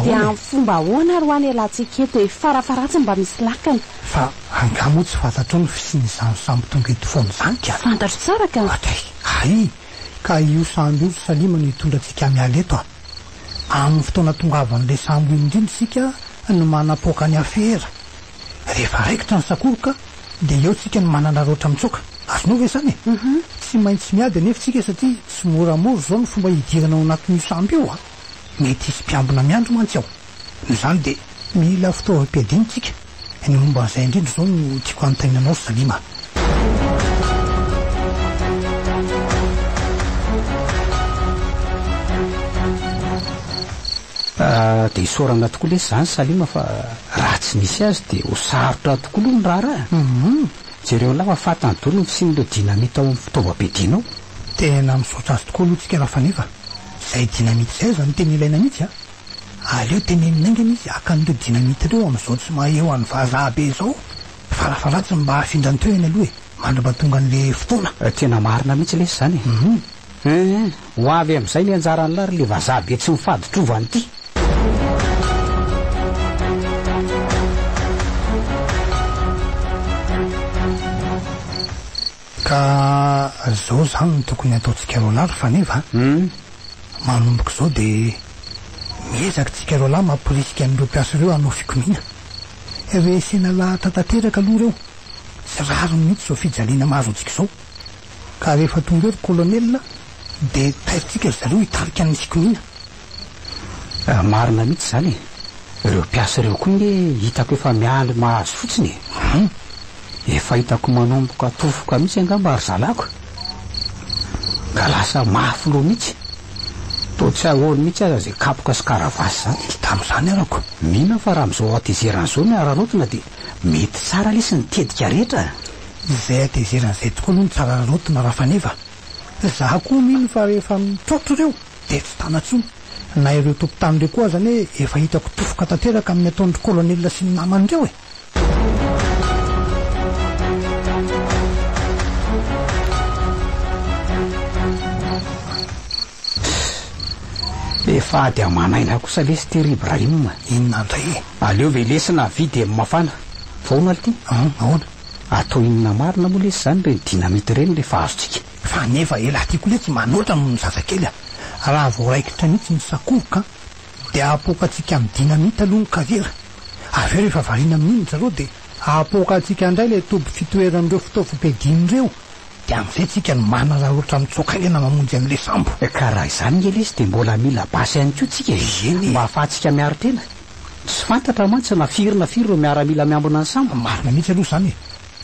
[SPEAKER 2] Dia amin'ny fomba ahoana ary ho'a ny alantsika eto e? Farafaharatsiny mba misy lakana. Fa angaha
[SPEAKER 3] moa tsy fantatrao ny fisian'izany samy tonga eto foana izany ka? Fantatro tsara ka! Hatry!
[SPEAKER 2] Hay!
[SPEAKER 3] Ka io sambo io ry Salima no hitondra antsika miala eto a! Amin'ny fotoana tongavan'ilay sambo iny indrindra isika no manapoaka ny afera. Rehefa raikitra ny sakoroka dia eo tsika no manararaotra mitsoaka. Azonao ve izany e? Tsy maintsy miady anefa tsika satria tsy moramora izao ny fomba hidirana ao anatin'io sambo io a! Mety hisy mpiambina miandry mantsy ao. Noho izany dia mila fitaovam-piadiana isika. Ny momba an'izay indrindra izao no tiako hanontaniana anao ry Salima.
[SPEAKER 6] Dia isaorana tokoa lesy izany Salima fa raha tsy nisy azy dia ho sarotra tokoa aloha ny raharaha e! Jereo anao fa fantany daholo ny fisian'ireo dinamita ao amin'ny fitaovam-piadiana ao. Tena
[SPEAKER 3] misaotra azy tokoa aloha tsika Rafaneva. Izay dinamita izay aza no tena ilaina mihitsy an! Aleo tenenina haingana izy haka an'ireo dynamite ireo amin'izao tsy mahay eo any vazaha be izao, farafara tsy mba hafindra ny toerany aloha e, mandrapa tonga an'ilay fotoana. Tena marina mihitsy
[SPEAKER 6] lesy izany e. Eeh, ho avy amin'izay ny anjaran'lah ry le vazaha be tsy mifadi-trova an'ity.
[SPEAKER 3] Ka zao zany no tokony hataontsika roalahy ry faneva a! Manomboka izao dia miezaka tsika roalahy mamporisika an'ireo mpiasa ireo hanao fikomiana. Resena lahatra tanteraka aloha ireo, tsy rariny mihitsy izao fijaliana mahazo antsika izao. Ka rehefa tonga eo ry Colonel dia tairintsika ry zareo hitarika ny fikomiana. Marina
[SPEAKER 6] mihitsy izany e! Ireo mpiasa ireo koa nge hitako efa miandry mahazo fotsiny e! Hum! Efa hitako manomboka hatofoka mihitsy angamba ry zalako e! Ka lasa mafy loha mihitsy! Toa tsy ahoany mihitsy aza izay kapoka sy karavasy izany! Tsy tamin'izany arako!
[SPEAKER 3] Mino fa raha amin'izao
[SPEAKER 6] hatezerana izao ny hararaotina dia mety tsara lesy ny tetika rehetra e! Izay
[SPEAKER 3] hatezerana izay tokoa aloha no tsara hararaotina Rafaneva! Izaho koa mino fa rehefa mitrotro ireo dia tsy tana intsony. Na ireo tompon-tany ireo koa aza anie efa hitako tofoka tanteraka amin'ny ataon-dry Kolonelina sy ny namany ireo e!
[SPEAKER 6] Efa ady aman'aina kosa lesy ity ry Ibrahim a! Inona indray e?
[SPEAKER 3] Aleo ve lesy na
[SPEAKER 6] vy dia mafana fa hono aly ity? Hum, ahoana?
[SPEAKER 3] Atao inona
[SPEAKER 6] marina moa lesy izany ireny dynamite ireny rehefa azontsika? Fa nefa elah
[SPEAKER 3] ty kole tsy manoatra noho ny zazakely a! Raha vao raikitra mihitsy ny sakoroka dia apoaka antsika amin'ny dynamite aloha ny kariera, avy eo rehefa variana amin'iny ry zareo dia apoaka antsika indray ilay toby fitoeran'ireo fitaovam-piadiana ireo dia amin'izay tsika no manararaotra mitsoaka aingana mamonjy an'ilay sambo. Ka raha izany nge
[SPEAKER 6] lesy dia mbola mila basy ihany koa tsika e! Eny e! Mba afahantsika miaro tena. Tsy fantatra mantsy na firy na firy ireo miaramila miambina ny sambo. Marina mihitsy aloha izany e!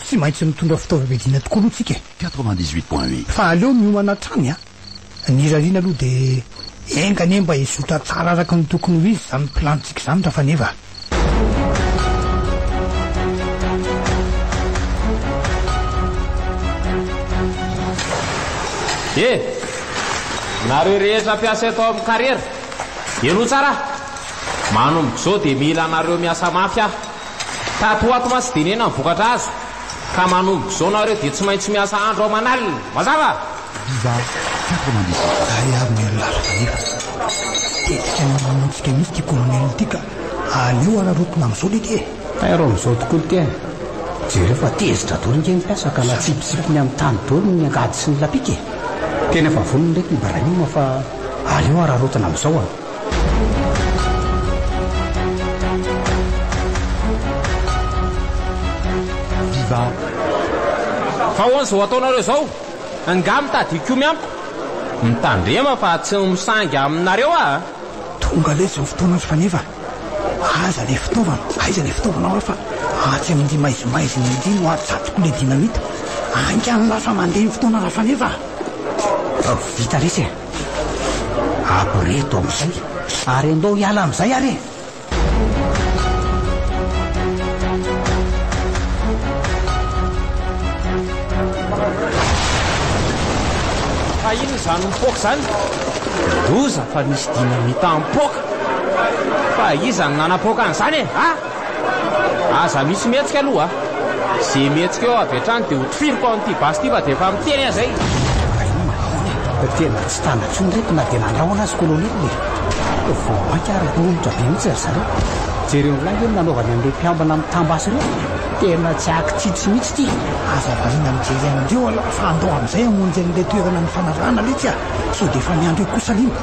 [SPEAKER 3] Tsy maintsy mitondra fitaovam-piadiana tokoa aloha tsika e! Quatre-vingt-dix-huit point huit.
[SPEAKER 5] Fa aleo miomana
[SPEAKER 3] hatrany a! Ny rariana aloha dia enga anie mba hizotra tsara araka ny tokony ho izy izany plan-tsika izany ra faneva a!
[SPEAKER 4] Dia, nareo rehetra mpiasa eto amin'ny karera, henoy tsara a! Manomboka izao dia mila anareo miasa mafy aho. Tato ho ato mantsy denena ny vokatra azo ka manomboka izao nareo dia tsy maintsy miasa andro aman'alina. Mazava? Viva 98. Zahay avy
[SPEAKER 3] ny Anolazo kanefa tetika ny mamonoantsika mihitsy ity colonel ity ka aleo araraotina amin'izao lety e! Tairo amin'izao tokoa ny
[SPEAKER 6] tena. Jereo fa tezitra daholo ireny mpiasa ka na tsipitsipiny amin'ny tany daholo ny angady sy ny lapika e! Tena efa vonona lety ny Ibrahim fa aleo araraotina amin'izao an!
[SPEAKER 4] Viva Fa ahoana izao ataonareo izao? Angaha mitady hikomy amiko? Mitandrema fa tsy misangy aminareo aho a! Tonga
[SPEAKER 3] letsy izao fotoana azy faneva a! Aiza ilay fitaovana? Aiza ilay fitaovanao aho fa atsy amin'ity maizimaizina ity no atsatoko ilay dinamita? Haingana lasa mandeha ny fotoana rafaneva a!
[SPEAKER 6] Vita letsy e! Abo re eto amin'izay ary andao hiala amin'izay ary e!
[SPEAKER 4] Fa inona izany mipoaka izany? Loza fa nisy dinamita mipoaka! Fa iza no nanapoaka an'izany e? Ha? Aza misy mihetsika aloha a! Ze mihetsika eo avy hatrany dia hotifiriko ao amin'ity basy ity fa dia efa miteny aza i. Rainy manahona e! Fa tena
[SPEAKER 6] tsy tana intsony ireto na dia nandrahona azy Kolonely e! Vao mainka ary romotra be mihitsy ry zareo. Jereo lahy ve ny nanaovany an'ireo mpiambina mitam-basy ireo? Tena tsy akitsitsy mihitsy ity! Aza variana
[SPEAKER 3] mijery an'ireo aloha fa andao amin'izay hamonjy an'ilay toerana nifanarahana letsy a! Sao dia efa miandry eo kosa liana!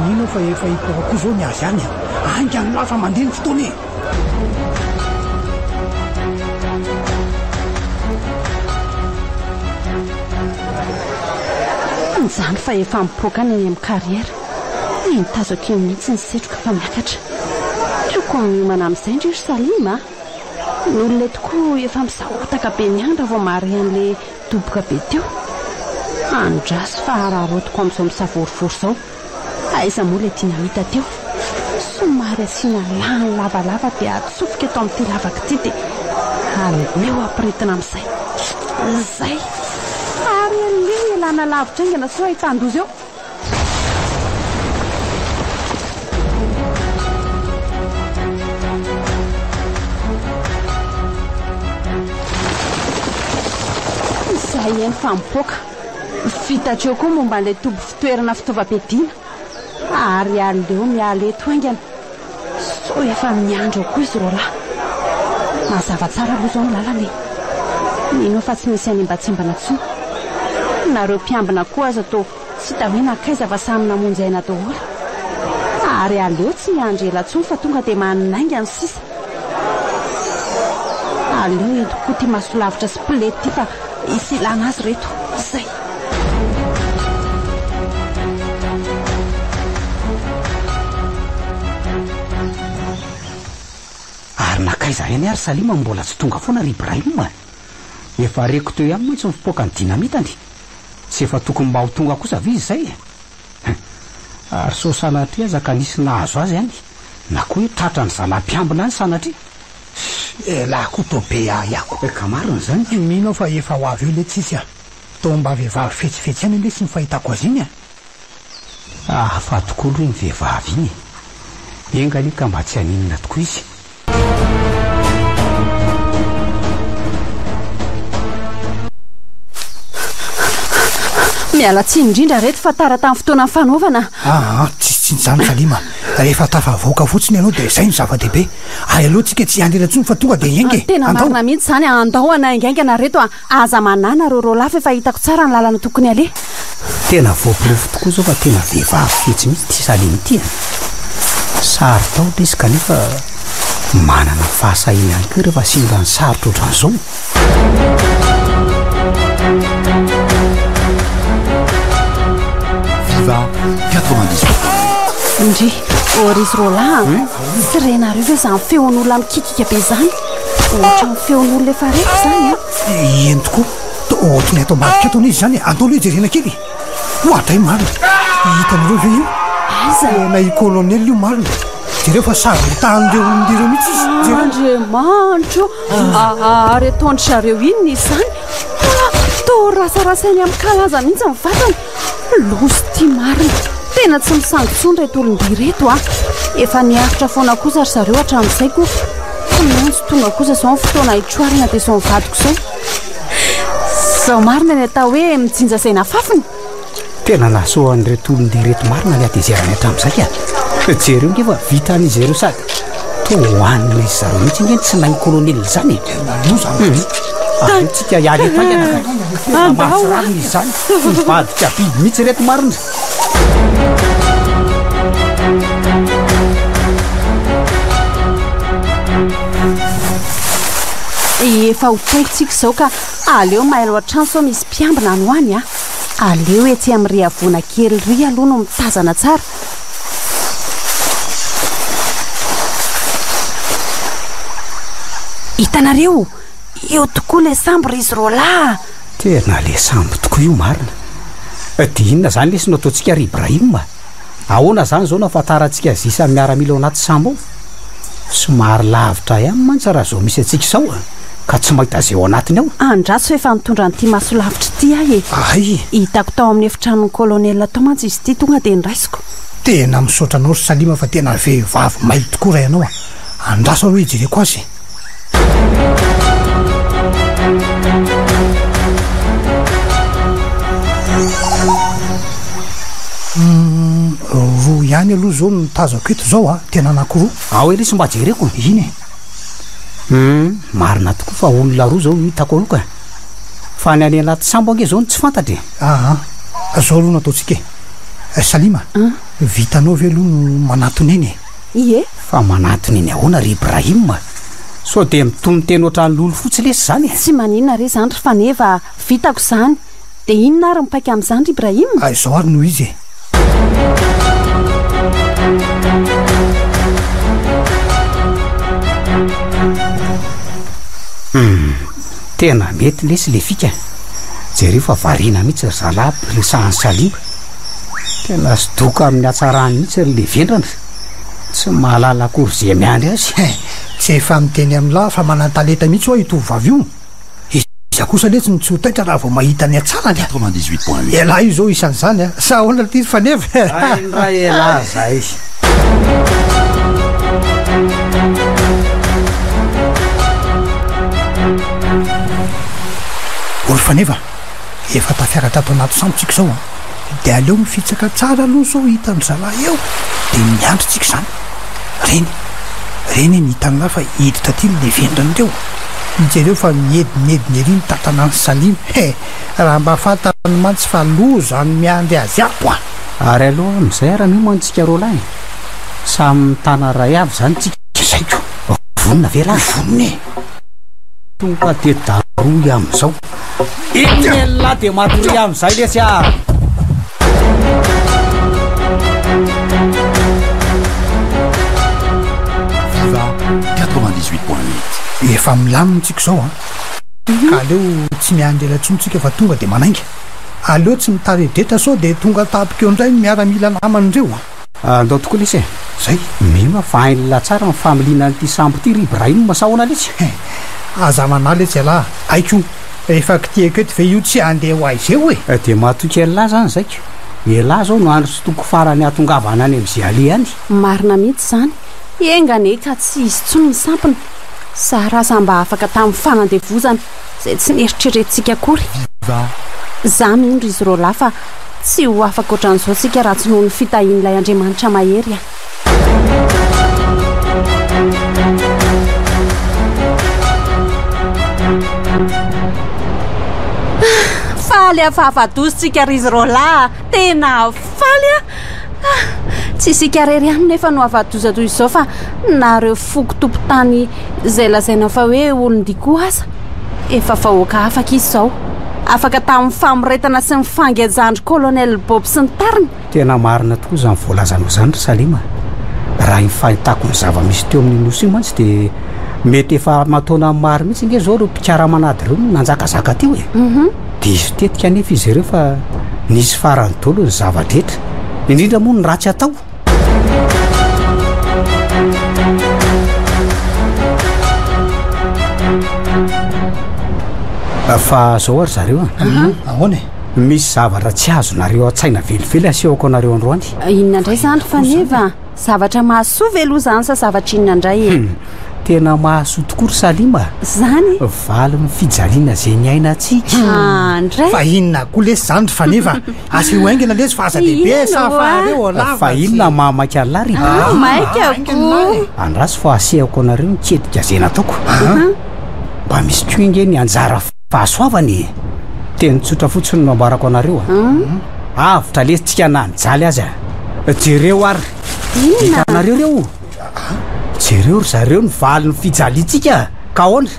[SPEAKER 3] Mino aho fa efa hipoaka koa izao ny azy any a! Ainga an'lah fa mandeha ny fotoana
[SPEAKER 2] e! Anjany fa efa mipoaka any eny amin'ny carrière. Te hitazako eo mihitsy ny setroka fa miakatra. Tiako hanomana amin'izay ndry ry Salim a! Ny olona eto koa efa misahotaka be ny andra vao mahare an'ilay doboka be teo. Andraso fa hararaotiko amin'izao misavorovoro izao. Aiza moa ilay tiana hita teo? Somary asiana lahany lavalava dia atsofoka eto amin'ity lavaka ity dia aleo ampirintina amin'izay. Izay! Ary aleo ialana lavitra haingana sao ahitan-doza eo. Izay eny fa mipoaka. Fitatra eo koa momba an'ilay toby fitoerana fitaovam-piadiana. Ary aleo miala eto haingana sao efa miandry ao koa izy roalahy. Mazava tsara aloha izao ny lalana e! Mino aho fa tsy misy hanembatsembana intsony. Nareo mpiambina koa aza toa tsy hita hoe nankaiza fa samy namonjy aina daholo. Ary aleo tsy miandry ela intsony fa tonga dia manainga ny sisa. Aleo entiko koa ty masolavitra sy pled ty fa tsy ilana azy reto. Zay.
[SPEAKER 6] Ary nankaiza any ary Salima no mbola tsy tonga foana ry Ibrahim a! Efa reko teo ihany mantsy ny fipoakan'ny dinamitany. Tsy efa tokony mba ho tonga kosa ve izay e! Hein. Ary sao sanatria aza ka nisy nahazo azy any na koa hoe tratran'ny zalahy mpiambina any sanatria. Fy elah
[SPEAKER 3] ko to be ahy aho. Eh ka marina zany ity.
[SPEAKER 6] Mino aho fa efa ho avy
[SPEAKER 3] eo le tsisy a! Toa mba vehivavy fetsifetsy ihany ange sy ny fahitako azy iny a!
[SPEAKER 6] Hafa tokoa aloha iny vehivavy iny e! Enga anie ka mba tsy haninona tokoa izy
[SPEAKER 2] Miala tsiny indrindra reto fa tara tamin'ny fotoanan'ny fanaovana. Ah, ah tsy tsy izany
[SPEAKER 3] Salima. Rehefa tafavoaka fotsiny ianao dia izay no zava-dehibe. Ary aleo tsika tsy hianjera intsony fa tonga dia hiainga e. Tena marina mihitsy izany,
[SPEAKER 2] andao hanaingaingana reto a. Aza manana rôrô lava efa hitako tsara ny lalana tokony haleha. Tena
[SPEAKER 6] voaporofo tokoa izao fa tena vehivavy fetsy mihitsy ity Salim ity an! Saro-tahotra izy kanefa manana fahasahiana ihany koa ireo fa simba ny sarotra
[SPEAKER 5] ohatran'izao.
[SPEAKER 2] Ohatran'ny feon'olona efa reko izany an! Eny
[SPEAKER 3] tokoa, ohatran'ny ato ambadika ato anie izy izany e! Andao aloha hijerena kely e! Oa dray marina! Hitanareo ve io? Aiza? Tena i
[SPEAKER 2] Colonel
[SPEAKER 3] io marina! Jereo fa sazy mitahan'ireo olon-dia ireo mihitsy izy! Jereo! Andriamanitro
[SPEAKER 2] o! Ary ataon-dry zareo inona izany? Toa rasarasainy amin-kalaza mihitsy ny vatany! Loza ity marina. Tena tsy misangy intsony ireto olon-dia ireto a. Efa niaritra foana kosa ry zareo hatramin'izay koa. Tsy maintsy tonga kosa izao ny fotoana hitroarana dia izao mivadiko izao. Izao marina ny atao hoe mijinja izay nafafina. Tena
[SPEAKER 6] nahasoa an'ireto olon-dia ireto marina ny hatezerany hatramin'izay a. Jereo nge fa vitan'izy ireo sady toa hohanina izy zareo mihitsy nge ny tsy nahin'ny kolonely izany e. Tena loza. Tany. Aotsika hiala eto haingana ka. Andao a. Mivadika biby mihitsy ireto marina.
[SPEAKER 2] Efa ho tongotsika izao ka aleo mailo hatrany sao misy mpiambina any ho any a. Aleo etsy amin'ny riavona kely ry aloha no mitazana tsara. Hitanareo? Io tokoa le sambo ry izy roa lahy a! Tena le
[SPEAKER 6] sambo tokoa io marina! Dia inona zany lesy no ataontsika ry Ibrahim a! Ahoana zany zao no afantarantsika azy isan'ny miaramila ao anaty sambo ao? Somary lavitra ihany mantsy raha zao misy antsika izao a! Ka tsy mahita izay ao anatiny ao! Andraso efa nitondra
[SPEAKER 2] an'ity masolavitra ity ahy e! Hay e! Hitako
[SPEAKER 3] tao amin'ny
[SPEAKER 2] efitranon'ny colonel tao mantsy izy ity tonga dia noraisiko! Tena misaotra
[SPEAKER 3] anao ry Salima fa tena vehivavy mailo tokoa raha ianao a! Andraso aloha hijereko azy e! Roa ihany aloha izao no tazako eto izao a, tena anankiroa. Ao Elisy mba jereko.
[SPEAKER 6] Iny e.
[SPEAKER 3] Hum,
[SPEAKER 6] marina tokoa fa olona roa izao no hitako aloka. Fa ny an'ialahy Tisambo ange izao no tsy fantatra e. Aa,
[SPEAKER 3] izao aloha no ataontsika e. Salima, vitanao ve aloha no manatona eny e. Ie. Fa
[SPEAKER 2] manantona
[SPEAKER 6] eny ahoana ry Ibrahim a? Sao dia mitonon-teny ohatran'ny lolo fotsy lesy izany e? Tsy maninona re izany
[SPEAKER 2] ry faneva, vitako izany. Dia inona ary ny paika amin'izany ry Ibrahim? Ary izao ary no izy
[SPEAKER 3] e.
[SPEAKER 6] Hum, tena mety lesy ilay fika. Jereo fa variana mihitsy ry zalahy mpiriny sahan'i Salim. Tena zodoka amin'ny hatsarany mihitsy ry le vendrana fa tsy mahalala akory ze miandry azy. He, tsy efa
[SPEAKER 3] miteny amin'ny lahy fa manan-talenta mihitsy ho'a io tovovavy io. Iza kosa letsy no tsy ho taitra raha vao mahita ny hatsarany. Quatre-vingt-dix-huit point huit. Elah
[SPEAKER 5] io zao isan'izany
[SPEAKER 3] a! Sa ahoana ity ry faneva e? Hay indray elah
[SPEAKER 6] zay.
[SPEAKER 3] O ry faneva a! Efa tafera tato anaty sambo tsika zao an! De aleo mifitsaka tsara aloha sao hitan'ny zalahy eo de miandry tsika zany! Reny! Reny anie ny hitan'lah fa hiditra aty ny levendriny reo! Jereo fa miedinedina ery ny tantanan'i Salim he! Raha mba fantany mantsy fa loza no miandry azy ato an! Ary aloha amizay ara
[SPEAKER 6] mioma antsika roalahy! Samy mitana ray avy zany tsika! Zay ko! Vonona ve lahy? Vonona e! Tonga de darohy amizao! Inona dia matoria amin'izay lesy ah!
[SPEAKER 5] Viva 98.8 Efa milamina
[SPEAKER 3] tsika izao an! Mhm. Ka aleo tsy miandela intsony tsika fa tonga dia manainga. Aleo tsy mitari-dretra sao dia tonga tapika eo indray ny miaramila namany ireo an! Andao tokoa
[SPEAKER 6] lesy e! Zay! Mino aho fa hain'i Lahy tsara ny familiana an'ity sambo ity ry Ibrahim sahona lesy! He! Aza
[SPEAKER 3] manahy lesy ialahy! Aiko! Efa kitihiko eto ve io tsy handeha ho aiza eo e! Dia matoky ialahy
[SPEAKER 6] zany zaiko! Ialahy zao no andro sy toko farany ahatongavana any amin'i Ziali any! Marina mihitsy zany!
[SPEAKER 2] Enga anie ka tsy hisy tsony ny sampona! Sarasa mba afaka tamin'ny fanandevozana! Izay tsy neritreretintsika akory. Izaho mino ry Zorolah fa tsy ho afaka ohatran'izao isika raha tsy noho ny fitahian'ilay Andriamanitra mahery a. Faly afahafa-dozontsika ry Zorolah a. Tena faly a. Tsy isika irery ihany nefa no afa-doza toy izao fa nareo foko tompotany izay lazaina fa hoe olon-dia koa aza efa vahoaka afaka izy izao. Afaka tamin'ny famoretana sy ny fangejan'dry Colonel Bob sy ny tariny. Tena marina tokoa
[SPEAKER 6] izany voalazanao izany ry Salima. Raha ny fahitako ny zava-misy teo amin'ny nosy io mantsy dia mety efa aman-taonany maro mihitsy ange izao ireo mpikaraman'ady ireo no nanjakazaka teo e. Mhm. Diso tetika anefa izy ireo fa nisy farany dolo ny zava-drehetra, indrindra moa ny ratsy atao. fa zao ary zareo a mhm. ahoana e
[SPEAKER 3] misy zavatra
[SPEAKER 6] tsy azonareo an-tsaina velively asehoko anareo androany ah, inona indray zany fa
[SPEAKER 2] neva zavatra mahasoa ve loha zany sa zavatra inona indray e hmm, tena mahasoa
[SPEAKER 6] tokoa ry salima zany
[SPEAKER 2] valin'ny
[SPEAKER 6] fijaliana zay ny aina atsika hmm. ah, ndray fa
[SPEAKER 2] inona koa lesy
[SPEAKER 3] zany ry faneva Asio aingina lesy fa aza dehibe sa fa aleo ao lava Fa inona ny maha maika
[SPEAKER 6] an'lah ry Dada? Ah, maika akoho.
[SPEAKER 2] Andraso fa
[SPEAKER 6] asehako anareo ny tetika izay nataoko. Mba misy koa ange ny anjara fahasoavana e! Teny tsotra fotsiny no ambarako anareo a. Avotra lesy tsika na ny jaly aza. Jereo ary. Inona? Hitanareo ireo? Jereo ry zareo ny valin'ny fijaliantsika ka ahoana?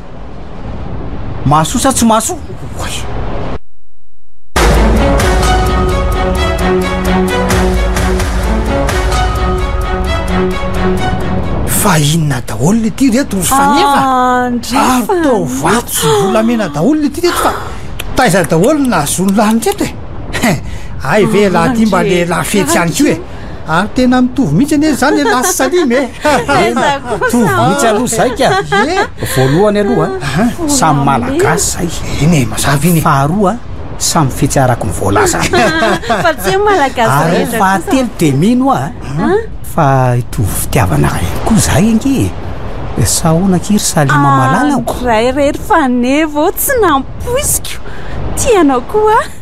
[SPEAKER 6] Mahasoa sa tsy mahasoa? Oay!
[SPEAKER 3] Fa inona daholo le ty reto ry faneva ah, ary tao vato sy volamena daholo le ty reto fa taiza daholo ny nahazoany lahy ny reto e ay ve lahy ty mba lehilahy fetsy ihany ko e ary tena mitovy mihitsy anie zany e lasy salime e mitovy mihitsy
[SPEAKER 6] aloha zay ka e voalohany aloha samy malagasy zay eny e mazava iny
[SPEAKER 3] faharoa
[SPEAKER 6] samy fetsy arako ny voalaza
[SPEAKER 2] ary fahatelo de
[SPEAKER 6] mino a fa hitovy fitiavana ray koa zay ange e sahona kiry salima ah, malalako ray rery
[SPEAKER 2] fanevo tsy nampoisiko tianao koa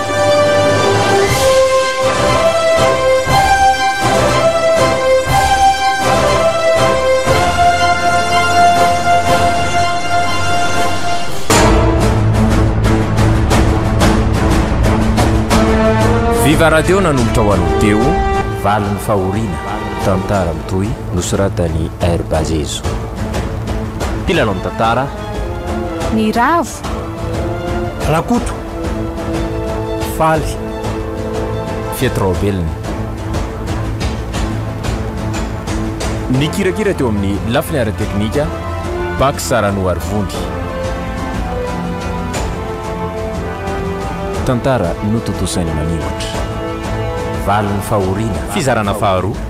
[SPEAKER 1] Viva Radio nanombotra ho an'ny Teo valin'ny fahoriana tantara mitohy nosoratan'i Air Bazezo. Mpilalao ny
[SPEAKER 2] tantara.
[SPEAKER 1] Ny
[SPEAKER 2] ravo.
[SPEAKER 3] Rakoto, faly. Fety
[SPEAKER 4] Raobelina. Nikirakira teo amin'ny lafiny ara-teknika, Bax Ranoarivony. Tantara notontosaina maningotra. Valin'ny fahoriana. Fizarana faharoa.